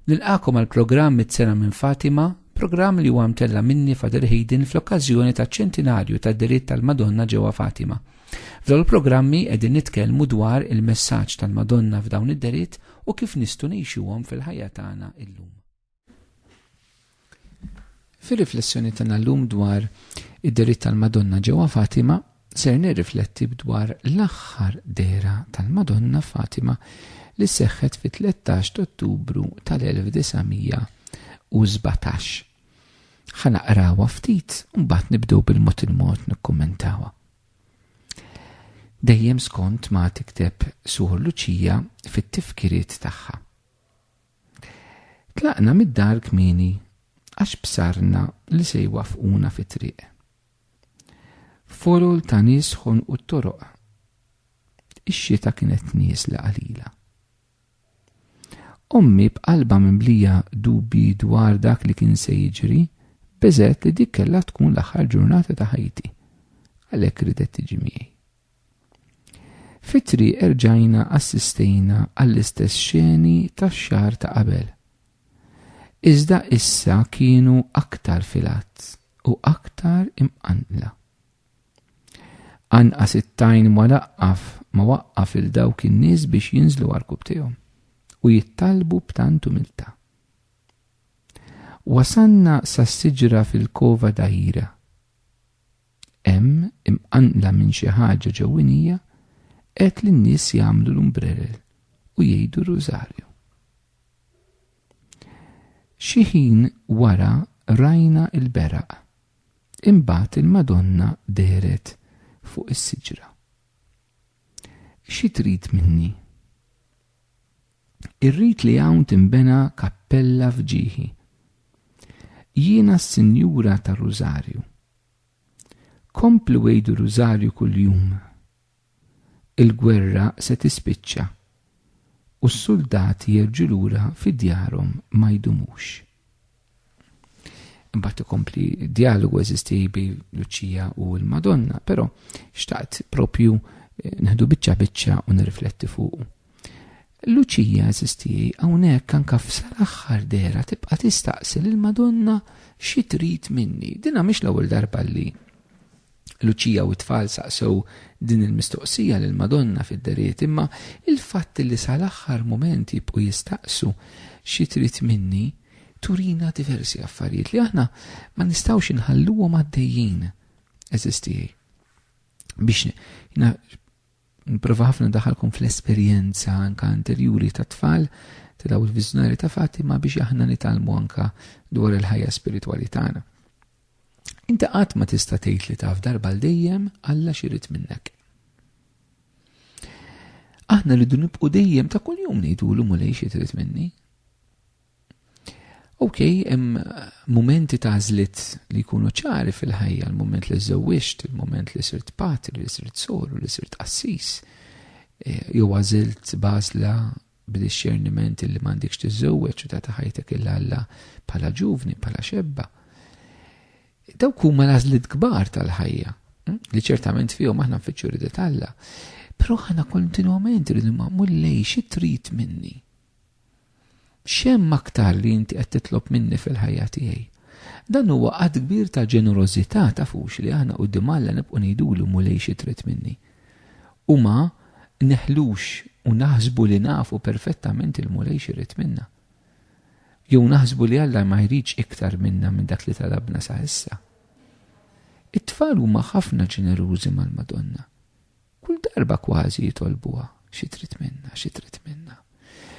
Nilqagħkom għall-programm Miċ-Ċena minn Fatima, programm li huwa mtella' minni Father Hayden fl-okkażjoni taċ-ċentinarju tad-delitt tal-Madonna ġewwa Fatima. F'dawn il-programmi qegħdin nitkellmu dwar il-messaġġ tal-Madonna f'dawn id-delitt u kif nistgħu ngħixuhom fil-ħajja tagħna illum. Fir-riflessjoni tagħna llum dwar id-deriet tal-Madonna ġewwa Fatima, ser nirrifletti dwar l-aħħar dehra tal-Madonna f'Fatima li seħħet fit-13 t'Ottubru tal-1917. Ħa naqrawha ftit u mbagħad nibdew bil-mod il-mod nikkummentawha. Dejjem skont ma tikteb Suħor Luċija fit-tifkiriet tagħha. Tlaqna mid-dar kmieni għax bsarna li se jwaffquna fit-triq. Furul ta' nies ħonqu t-toroq. Ix-xita kienet nieżla qalila. Ommi b'qalbha mimlija dubji dwar dak li kien se jiġri, beżgħet li dik kellha tkun l-aħħar ġurnata ta' ħajti. Għalhekk ridet tiġi miegħi. Fit-triq erġajna assistejna għall-istess xeni tax-xahar ta' qabel. Iżda issa kienu aktar fil-għadd u aktar imqanqla. Anqas it-tajn ma laqqaf ma waqqaf lil dawk in-nies biex jinżlu għarkub tiegħu u jittalbu b'tant umiltà. Wasalna sas-siġra fil-Cova d'Aira. Hemm, imqanqla minn xi ħaġa ġewwinija, għedt lin-nies jagħmlu l-umbrerel u jgħidu r-Rużarju. Xi ħin wara rajna l-beraq. Imbagħad il-Madonna dehret fuq is-siġra. Xi trid minni? Irrid li hawn tinbena kappella f'ġieħi. Jiena s-Sinjura tar-Rużarju, Komplu għidu rużarju kuljum. Il-gwerra se tispiċċa u s-suldati jerġgħu lura fi djarhom ma jdumux. Imbagħad ikompli djalogu eżisti bi Luċija u l-Madonna, però xtaqt propju eh, nħdu biċċa biċċa u nirrifletti fuq. Luċija għażiż tiegħi hawnhekk anke f'sal-aħħar dehra tibqa' tistaqsi lill-Madonna xi trid minni. Dinha mhix l-ewwel darba li Luċija u t-tfal saqsew din il-mistoqsija lill-Madonna fid-deriet imma il-fatt li sal-aħħar mument jibqgħu jistaqsu xi trid minni turina diversi affarijiet li aħna ma nistgħux inħalluhom għaddejjin eżistiej. Biex Nipprova ħafna daħalkom fl-esperjenza anka anterjuri ta' tfal ta' daw il-viżjonari ta' Fatima biex aħna nitalmu anka dwar il-ħajja spiritwali tagħna. Inti qatt ma tista' tgħid li taf darba l dejjem Alla xirid minnek. Aħna rridu nibqu dejjem ta' kuljum ngħidulu mulej xi trid minni. Ok, hemm momenti ta' żlit li jkunu ċari fil-ħajja, l-moment li żewwiġt, il-moment li sirt patri, li sirt soru, li sirt qassis, eh, jew għażilt bażla b'dixxerniment li m'għandikx tiżżewweġ u ta' ħajtek il Alla bħala ġuvni, bħala xebba. Dawk huma l-għażliet kbar tal-ħajja, hm, li ċertament fihom aħna nfittxu ridet Alla. Però aħna kontinwament rridu ma' mullej xi trid minni. X'hemm aktar li inti qed titlob minni fil-ħajja tiegħi? Dan huwa att kbir ta' ġenerożità, tafux li aħna quddiem Alla nibqgħu ngħidulu, Mulej xi trid minni? U ma neħlux u naħsbu li nafu perfettament il-Mulej x'irid minna. Jew naħsbu li Alla ma jridx iktar minna minn dak li talabna sa issa. It-tfal huma ħafna ġenerużi mal-Madonna. Kull darba kważi jitolbuha, xi trid minna, xi trid minna.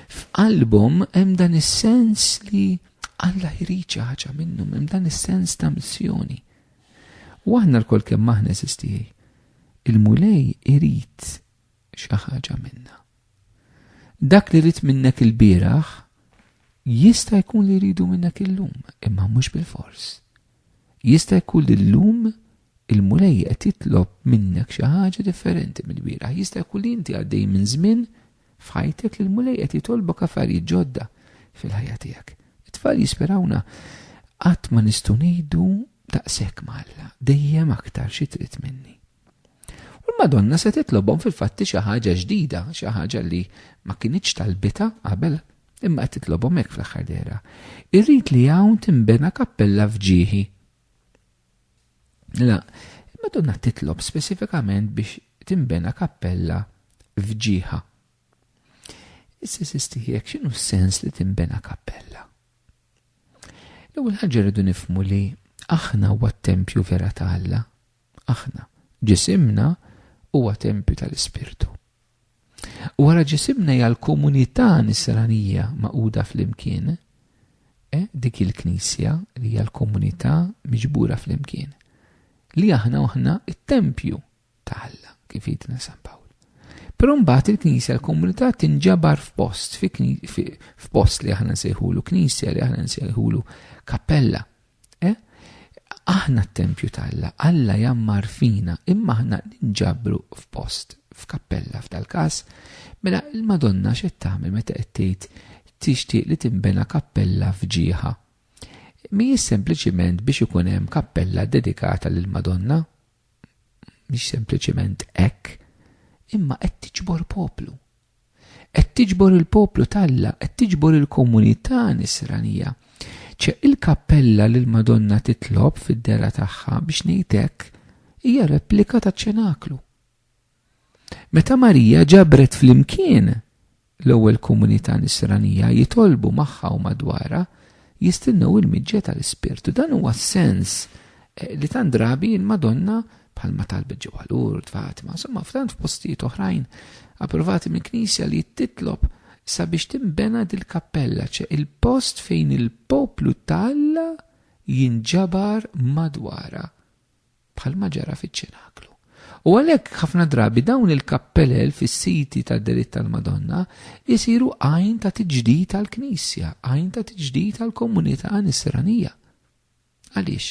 F'qalbhom hemm dan is-sens li Alla jrid xi ħaġa minnhom, hemm dan is-sens ta' missjoni. U aħna lkoll kemm aħna eżistijej, il-mulej irid xi ħaġa minna. Dak li rrid minnek il-bieraħ jista' jkun li jridu minnek illum, imma mhux bil-fors. Jista' jkun li llum Il-Mulej qed jitlob minnek xi ħaġa differenti mill-bieraħ. Jista' jkun li inti għaddej minn żmien f'ħajtek li l-Mulej qed jitolbok affarijiet ġodda fil-ħajja tiegħek. It-tfal jisperawna qatt ma nistgħu ngħidu daqshekk ma' Alla, dejjem aktar xi trid minni. U l-Madonna se titlobhom fil-fatti xi ħaġa ġdida, xi ħaġa li ma kinitx talbita qabel imma qed titlobhom hekk fl-aħħar dehra. Irrid li hawn tinbena kappella f'ġieħi. La, Madonna titlob speċifikament biex timbena kappella f'ġieħa. Issa sistihijek x'inhu s-sens li timbena kappella? L-ewwel ħaġa rridu nifmu li aħna huwa t-tempju vera ta' Alla. Aħna, ġisimna huwa tempju tal-Ispirtu. Wara ġisimna hija l-komunità nisranija magħquda flimkien, e, dik il-Knisja li hija l-komunità miġbura flimkien, li aħna aħna t-tempju ta' Alla, kif jgħidna San Pawl. Però mbagħad il-Knisja l-komunità tinġabar f'post, f'post li aħna nsejħulu Knisja, li aħna nsejħulu kappella. Eh? Aħna t-tempju ta' Alla, Alla jammar fina, imma aħna ninġabru f'post, f'kappella f'dal-każ, mela l-Madonna x'qed tagħmel meta qed tgħid tixtieq li tinbena kappella f'ġieħa. Mhijiex sempliċiment biex ikun hemm kappella dedikata lill-Madonna, mhix sempliċement hekk, imma qed tiġbor poplu. Qed tiġbor il-poplu talla, qed tiġbor il-komunità nisranija. ċe il-kappella li l-Madonna titlob fid-dera tagħha biex ngħidek hija replika ta' ċenaklu. Meta Marija ġabret flimkien l-ewwel komunità Nisranija jitolbu magħha u madwarha jistennew il-miġja tal-Ispirtu. Dan huwa s-sens eh, li tant drabi il-Madonna bħalma talbet ġewwa Lourdes, Fatima, insomma f'tant f'postijiet oħrajn approvati minn knisja li titlob sabiex timbena dil-kappella, ċe il-post fejn il-poplu talla jinġabar madwara. bħalma ġara fiċ-Ċenaklu. U għalhekk ħafna drabi dawn il-kappelel fis-siti tad-delitt tal-Madonna jsiru għajn ta' tiġdid għall-Knisja, għajn ta' tiġdid għall-komunità Nisranija. Għaliex?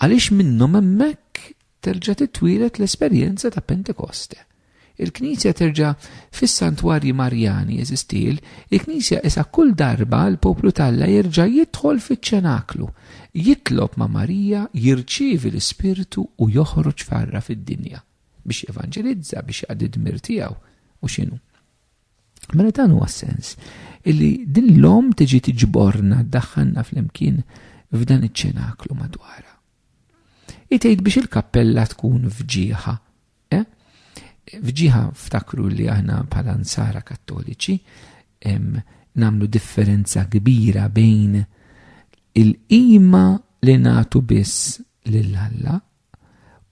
Għaliex minnhom hemmhekk terġa' titwielet l-esperjenza ta' Pentekoste. Il-Knisja terġa' fis-santwarji Marjani, għeżiż tiel, il-Knisja isha kull darba l-poplu t'Alla jerġa' jidħol fiċ-ċenaklu, jitlob ma' Marija, jirċievi l-Ispirtu u joħroġ farra fid-dinja biex jevanġelizza, biex jaqdi d-dmir tiegħu, u x'inhu. Mela dan huwa s-sens illi din l-om tiġi tiġborna ddaħħalna flimkien f'dan iċ-ċenaklu madwarha. Itgħid biex il-kappella tkun fġieħa Eh? Fġiħa ftakru li aħna bħala nsara kattoliċi namlu differenza kbira bejn il-qima li natu biss lil Alla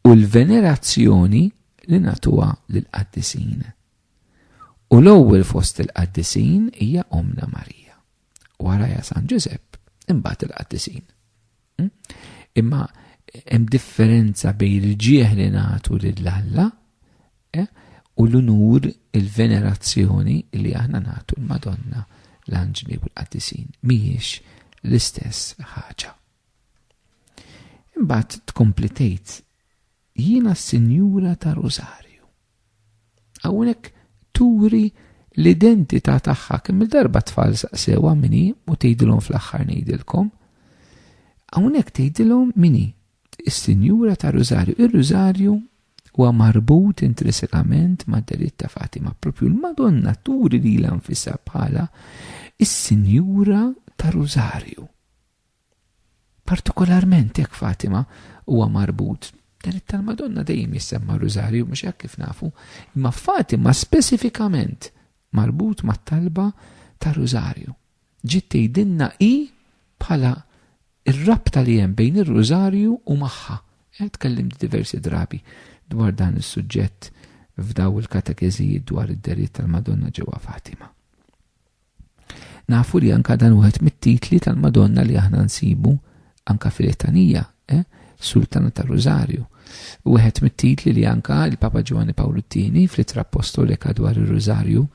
u l-venerazzjoni li natuha lil qaddisin U l-ewwel fost il-qaddisin hija Omna Marija. warajha San Ġużepp, imbagħad il-qaddisin. Hm? Imma hemm differenza bejn il-ġieħ li nagħtu lil Alla eh, u l-unur il-venerazzjoni li aħna nagħtu l-Madonna l-anġli u l-qaddisin mhijiex l-istess ħaġa. Imbagħad tkompli tgħid Jiena s-Sinjura ta' Rosario. Hawnhekk turi l-identità tagħha kemm-il darba t-tfal saqsewha min hi u tgħidilhom fl-aħħar ngħidilkom. Hawnhekk tgħidilhom min hi is-Sinjura ta' Rosario. Ir-Rosario huwa marbut intrinsikament mad-delitt ta' Fatima. Propju l-Madonna turi lilha nfisha bħala is-Sinjura ta' Rosario. Partikolarment jekk Fatima huwa marbut, dan it-tal-Madonna dejjem jissemma r-Rużarju, mhux hekk kif nafu, imma Fatima speċifikament marbut mat-talba tar-Rużarju. Ġiet tgħidilna hi bħala r-rabta li hemm bejn ir-Rużarju u magħha. Eh, tkellimt diversi drabi dwar dan is-suġġett f'daw il-katekeżijiet dwar id-deriet tal-Madonna ġewwa Fatima. Nafu li anka dan wieħed mit-titli tal-Madonna li aħna nsibu anka fil-etanija, eh? Sultana tal-Rużarju. Wieħed mit-titli li anka il-Papa Ġwanni Pawlu II fl-ittra apostolika dwar ir-Rużarju,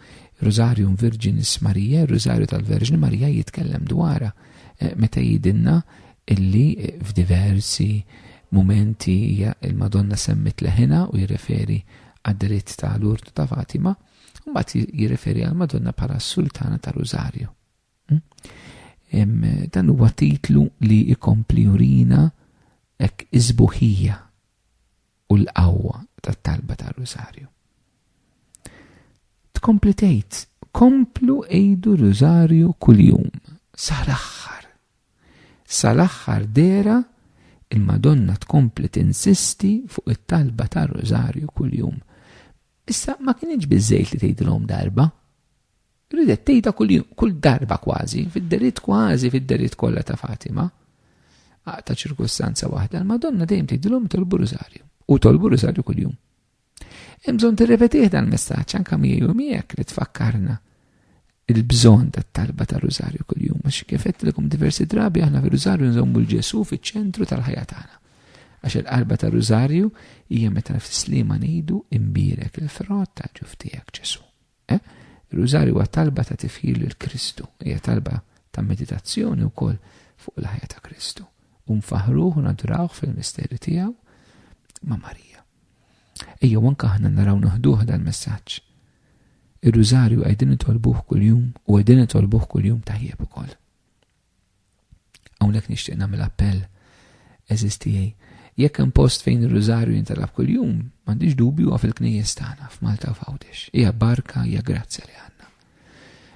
Rużarjum Virginis Marija, Rużarju tal-Verġni Marija jitkellem dwarha eh, meta jidinna illi eh, f'diversi momenti il-Madonna semmit leħina u jirreferi għad-dritt tal-urtu ta' Fatima. Mbagħad jirreferi għal Madonna bħala s-Sultana ta' Rużarju. Hm? Dan huwa titlu li jkompli urina hekk iżbuħija u l-qawwa tat-talba ta' Rużarju. Tkompli tgħid, komplu għidu Rużarju kuljum, sal-aħħar. Sal-aħħar dera il-Madonna tkompli tinsisti fuq it-talba ta' Rużarju kuljum Issa ma kinitx biżejt li tgħidilhom darba. Ridet tgħidha kull, kull darba kważi, fid-deritt kważi fid-deritt kollha ta' Fatima. Aqta ċirkustanza waħda, l-Madonna dejjem tgħidilhom tolbu rużarju u tolbu rużarju kuljum. Hemm bżonn tirrepetih dan messaġġ anke miegħi u miegħek li tfakkarna il-bżonn tat-talba ta' rużarju kuljum. Għax kif għedtilkom diversi drabi aħna fir-rużarju nżommu l-Ġesu fiċ-ċentru tal-ħajja tagħna. Għax il-qalba ta' rużarju hija meta fis-slima ngħidu imbierek il-frott tal-ġuf tiegħek Ġesu. Eh? Rużarju huwa talba ta' tifħir lil Kristu, hija talba ta' meditazzjoni wkoll fuq il-ħajja ta' Kristu. U nfaħruh u nadurawh fil-misteri tiegħu ma' Marija. Ejjew anke aħna naraw neħduh dal-messaġġ. Ir-Rużarju qegħdin nitolbuh kuljum u qegħdin nitolbuh kuljum tajjeb ukoll. Hawnhekk nixtieq nagħmel appell eżiż tiegħi. Jekk hemm post fejn ir-Rużarju jintalab kuljum, m'għandix dubju huwa fil-knejjes tagħna f'Malta u f'Għawdex. Hija barka, hija grazzja li għandna.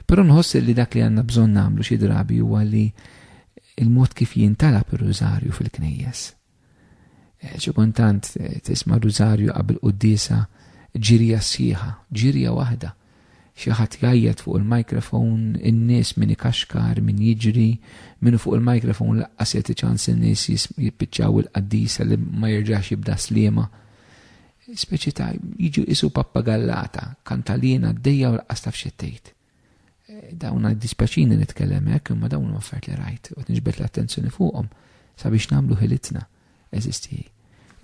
Però nħoss li dak li għandna bżonn nagħmlu xi drabi huwa li il-mod kif jintalab ir-Rużarju fil-knejjes Eh, xi kultant eh, tisma' rużarju qabel quddiesa ġirja sħiħa, ġirja waħda. Xi ħadd jgħajjat fuq il-mikrofon, in-nies min ikaxkar, min jiġri, minu fuq il-mikrofon laqqas jagħti ċans in-nies jippiċċaw il-qaddisa li ma jerġax jibda sliema. Speċi ta' jiġu isu pappagallata, kantalina d-dejja u laqqas taf xettejt. Dawna dispjaċini nitkellem hekk, imma dawn huma affarijiet li rajt u nġbed l-attenzjoni fuqhom sabiex nagħmlu ħilitna eżisti.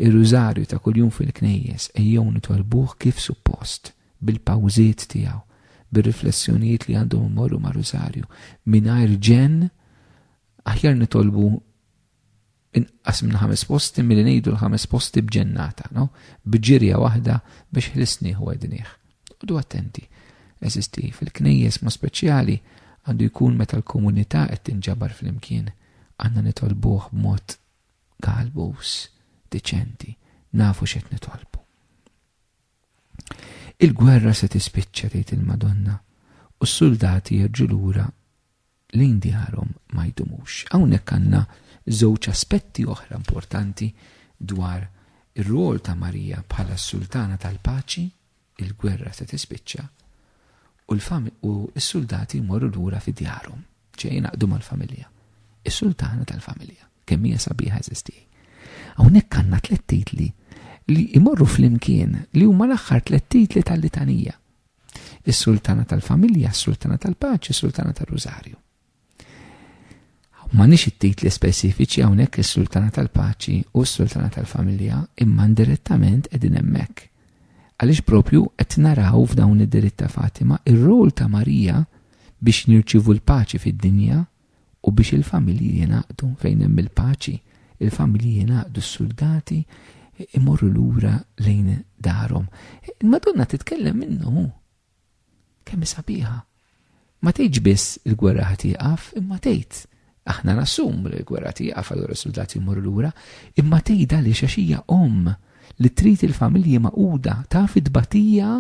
Ir-rużarju ta' kuljum fil-knejjes ejjew nitolbuh kif suppost, bil-pawżiet tiegħu, bir-riflessjonijiet li għandhom imorru ma' rużarju, mingħajr ġenn aħjar nitolbu inqas minn ħames posti milli ngħidu l-ħames posti b'ġennata, no? b'ġirja waħda biex ħlisnieh u għednieh. Udu attenti, eżisti fil-knejjes ma speċjali għandu jkun meta l-komunità qed tinġabar fl-imkien għandna nitolbuh b'mod galbus, deċenti, nafu x'qed nitolbu. Il-gwerra se tispiċċa tgħid il-Madonna u s-suldati jerġu lura lejn djarhom ma jdumux. Hawnhekk għandna żewġ aspetti oħra importanti dwar ir-rwol ta' Marija bħala s-Sultana tal-Paċi, il-gwerra se tispiċċa, u l-fam u s-suldati jmorru lura fi djarhom, ċe jingħaqdu mal-familja. Is-Sultana tal-Familja, kemm hija sabiħa eżistij. Hawnhekk għandna tliet titli li jmorru flimkien li huma l-aħħar tliet titli tal-litanija. Is-sultana tal-familja, is-sultana tal-paċi, is-sultana tal-rużarju. Ma nix it-titli speċifiċi hawnhekk is-sultana tal-paċi u s-sultana tal-familja imma indirettament qegħdin hemmhekk. Għaliex propju qed naraw f'dawn id-diritt ta' Fatima ir-rol ta' Marija biex nirċivu l-paċi fid-dinja u biex il-familji jingħaqdu fejn hemm il-paċi, il-familji jingħaqdu s-suldati imorru lura lejn darhom. Il-Madonna titkellem minnu kemm sabiħa. Ma tgħidx biss il-gwerra ħatieqaf, imma tgħid aħna nassum li l-gwerra tieqaf allura s-suldati jmorru lura, imma tgħidha li xaxija om li trid il-familji maquda taf id-batija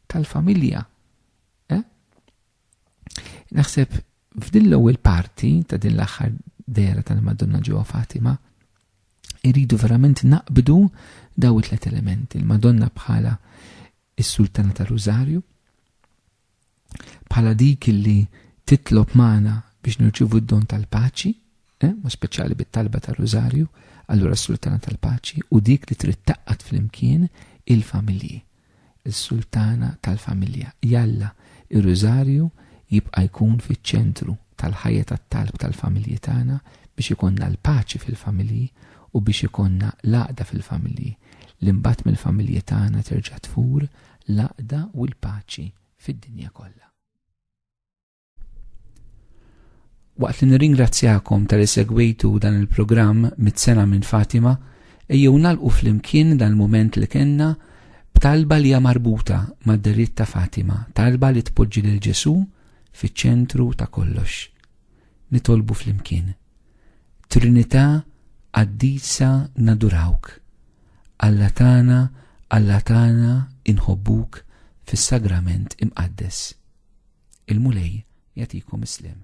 tal-familja. Eh? Naħseb f'din l-ewwel parti ta' din l-aħħar dera tal-Madonna ġewwa Fatima, irridu verament naqbdu daw it-tlet elementi, il-Madonna bħala is-Sultana ta' Rużarju, bħala dik li titlob magħna biex nirċivu d-don tal-paċi, eh, ma speċjali bit-talba ta' Rużarju, allura s-Sultana tal-Paċi u dik li trid taqqat flimkien il-familji. is-Sultana tal-familja. Jalla, ir-Rużarju jibqa' jkun fiċ-ċentru tal-ħajja tat-talb tal-familji tagħna biex ikollna l-paċi fil-familji u biex ikollna l-għaqda fil-familji, li mbagħad mill-familji tagħna terġa' tfur l-għaqda u l-paċi fid-dinja kollha. Waqt li nirringrazzjakom tal segwejtu dan il-programm mit-sena minn Fatima, ejjew nalqu flimkien dan il-moment li kenna b'talba li hija marbuta mad-deritt ta' Fatima, talba li tpoġġi lil Ġesù fiċ-ċentru ta' kollox. Nitolbu flimkien. Trinità qaddisa nadurawk. Alla tagħna, Alla tagħna inħobbuk fis-sagrament imqaddes. Il-Mulej jagħtikom is-sliem.